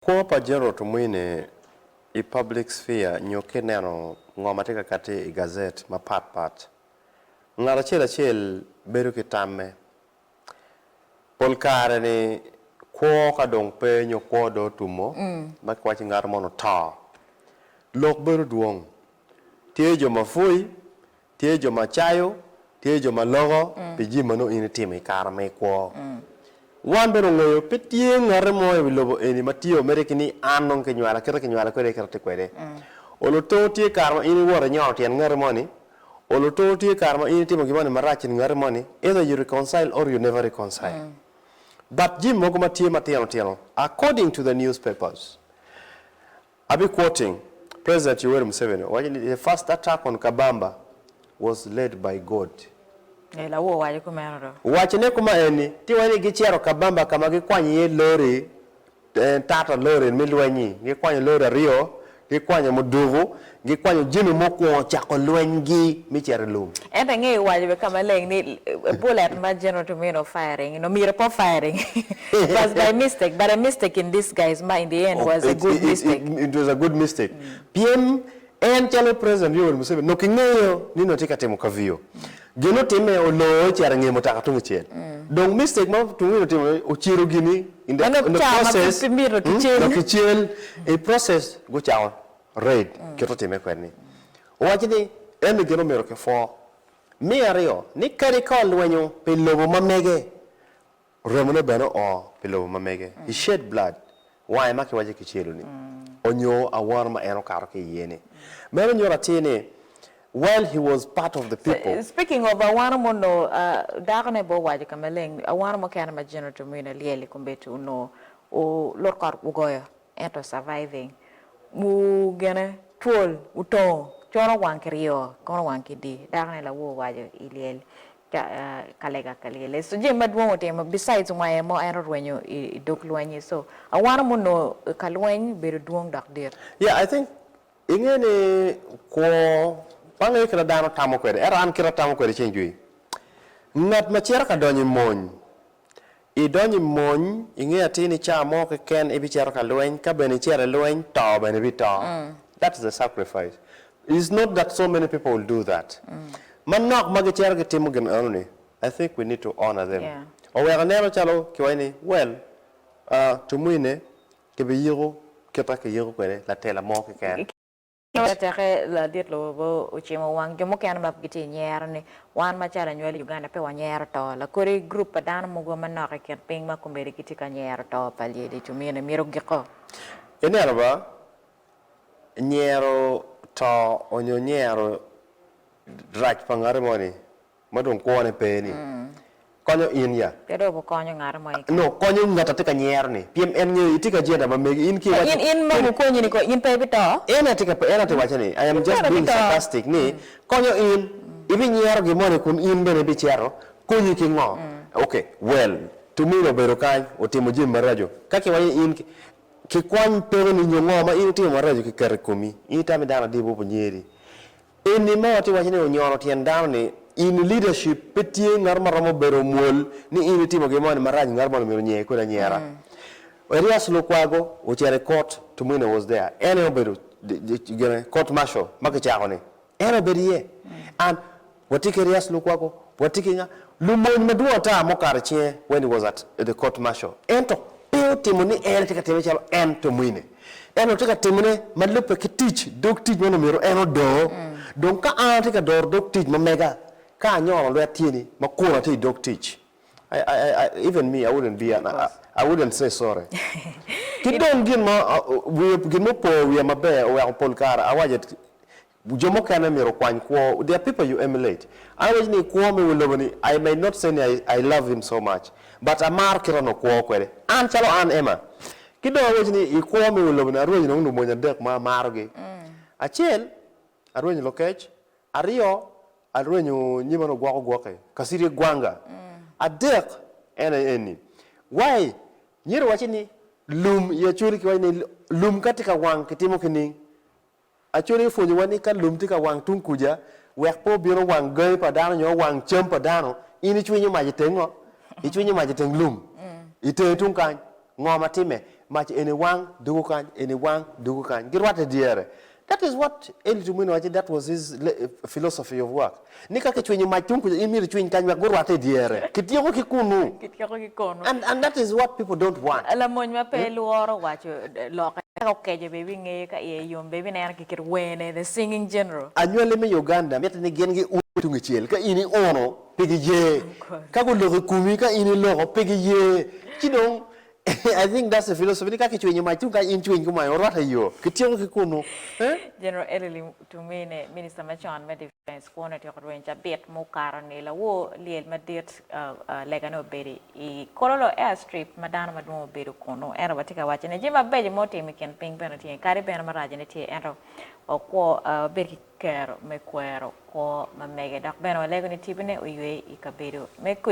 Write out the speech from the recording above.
Kwo pa General Tumwine i public sphere nyo kineno ngo ma tye ka katti i gazet mapat pat, ngat acel acel bedo ki tamme. Pol kare ni kwo ka dong pe nyo kwo do otumo, ma ki waco ni ngato mono oto, lok bedo dwong. Tye jo ma pwoyi, Tye jo ma cayo, tye jo ma loko pi jami ma nongo in itimo i kare ma i kwo. Wan bene ongeyo pe tye ngate mo i wi lobo eni ma tye omedde ki ni an nongo kinywala, kite kinywala kwede aye kite atye kwede. Oluto tye kare ma in iwoto inyono tyen ngati mo ni, oluto tye kare ma in itimo gin moni marac in ngati mo ni, either you reconcile or you never reconcile. But jami mogo ma tye matino tino according to the newspapers, I'll be quoting President Yoweri Museveni owaco ni the first attack on Kabamba was led by God. Ee, Lawu owaco kumeno do. Wacine kuma eni, Ti iwaco ni gicito Kabamba ka ma gikwanyo iye lori, tata lori me lweny-nyi, gikwanyo lori aryo, gikwanyo muduku, gikwanyo jami mukwongo cako lwenygi me cito i lum. Ento ingeyo waco bene ka maleng ni bullet ma General Tumino firing-ngi nongo myero pe o firing. It was by mistake, but a mistake in disguise ma in the end was a good mistake. It was a good mistake pien en calo President Yoweri Museveni nongo kingeyo ni nongo tye ka timo kaviyo. Gin otime oloo ecito engeyo mutoka tungcel. Dong mistake ma tung in otimo ociro gini in the process, in the process nongo kicel, i process gucako raid kit otime kwede ni. Owaco ni eni gin omyero kipwo. Me aryo ni kadi ka olwenyo pi lobo ma mege, Remone bene oo pi lobo ma mege, he shed blood, wange ma kiwaco kicelo-ni, onyo awano ma en okato ki iye-ni. Meno nyuto atir ni, while he was part of the people. Speaking of awano ma onongo dakone aye owaco ka maleng, awano mukene ma General Tumwine lyel i kombeddi onongo lut kot ogoyo. Ento surviving wu gene twol otongo coro wang ki ryo kono wang ki di dako ne lawor owaco i lyel ka lega ka lyel so jami madwong otimo besides ngwaye mo en orwenyo i dog lweny ni so awano mo no ka lweny obedo dwong dok dit. Yeah I think inge ni kwo pa nge kita dano tamo kwede ento an kita atamo kwede ceng jwi ngat macito ka donyo i mony. Idonyo i mony, inge atir ni ca mo keken ibicito ka lweny, ka bene icito i lweny, to bene ibito. That is the sacrifice. It's not that so many people will do that. Manok ma gicito gitimo gin enoni, I think we need to honour them. Oweko ineno calo kiwaco ni, well, tumwine kibiyiko kit ma kiyiko kwede latela mo keken. Te teke ladit lobo ocimo wang jo mukene ma gitye i nyero ni, Wan macalo anywali i Uganda pe wanyero to. Lakodi gurup pa dano mogo manok i kin piny ma komedi gitye ka nyero to pa lyeci cumine myero giko. Ineno ba, nyero to onyo nyero rac pa ngati moni Ma dong kwone pe ni konyo in ya. Pe dong wukonyo ngatu mo keken. Nongo konyo ngat a tye ka nyero ni, pien en ngeyo itye ki ajenda ma megi. In ki iwaco. In ma gukonyi ni kong in pe ibito? En aye tye ka waco ni, I am just being sarcastic ni konyo in. Ibinyero gin moni kun in bene ibicito. Konyi ki ngo? Ok, well, Tumino obedo kany otimo jami maraco. Ka kiwaco ni in kikwany peko ni nyo ngo ma in itimo maraco kiketo i komi, in itamo ni dano adibu obinyer di? Eni ma watye waco ni onyono tyen dano ni in leadership pe tye ngato ma romo bedo omwol ni in itimo gin moni marac ngato moni omyero onyer kodi anyera. Erias Lukwago ocito i court to Mwine was there en aye obedo gine court martial ma kicako ni en obedo iye and watye ki Erias Lukwago watye ki nga lumony madwong ata ma okato icinge when he was at the court martial ento pe otimo ni en aye tye ka time calo en to Mwine. En otye ka timone ma lubbe ki tic dog tic ma onongo myero en odor. Dong ka an atye ka doro dog tic ma mega, ka anyono lwet tyeni ma kono atye i dog tic, even me I wouldn't be an I wouldn't say sorry. Ki dong gin ma, gin ma opo wiya maber oweko pol kare I was at Jo mukene myero okwany kwo their people you emulate. An awaco ni kwo me wel lobo ni I may not say ni I love him so much but amaro kite onongo kwo kwede an calo an Emma. Ki dong awaco ni i kwo me wel lobo ni arwenyo nongo lumony adek ma amaro gi. Acel arwenyo lokec, aryo arwenyo nyima ni ogwoko gwoki, kasiri gwanga, adek en aye eni. Why myero iwacci ni lum i Acholi kiwaco ni lum ka tye ka wang kitimo kining? Aconia opwonyowa ni ka lum tye ka wang tung kuca, wek pe obin owang gangi pa dano nyo owang cam pa dano, in icwinyo mac i teng ngo? Icwinyo mac i teng lum. I tenge tung kany, ngo ma timme? Mac eni wang, doko kany, eni wang, doko kany. Girwatte dyere. That is what Eli Tumwine waco, that was his philosophy of work. Ni ka kicwinyo mac tung kuca, in myero icwiny kany wek gurwatte i dyere. Kityeko ki kunu. Kityeko ki kunu. And, and that is what people don't want. Lamony ma pe lworo waco lokke, ka okeco bene ibingeye, ka iye yom bene ibineno ki kit werne, the singing general. Anywali me Uganda mitte ni gin gium tungicel ka in iuno, pe giye. Ka guloko i kumi ka in iloko, pe giye. Ci dong I think that's the philosophy ni ka kicwinyo mac tung kany in cwiny ki mwany orwat i yoo. Kityeko ki kunu. Eh? General Elly Tumine, Minista macon me Defence kwone otyeko rweny cabit mukato ni lawo lyel madit legane obedo i Kololo Airstrip ma dano madwong obedo kunu ento watye ka wacci ni jami mabeco ma otimo i kin piny bene tye kadi bene maracone tye ento wakwo wabed ki kero me kwero kwo ma mege dok bene walego ni tibine oywe i kabedo me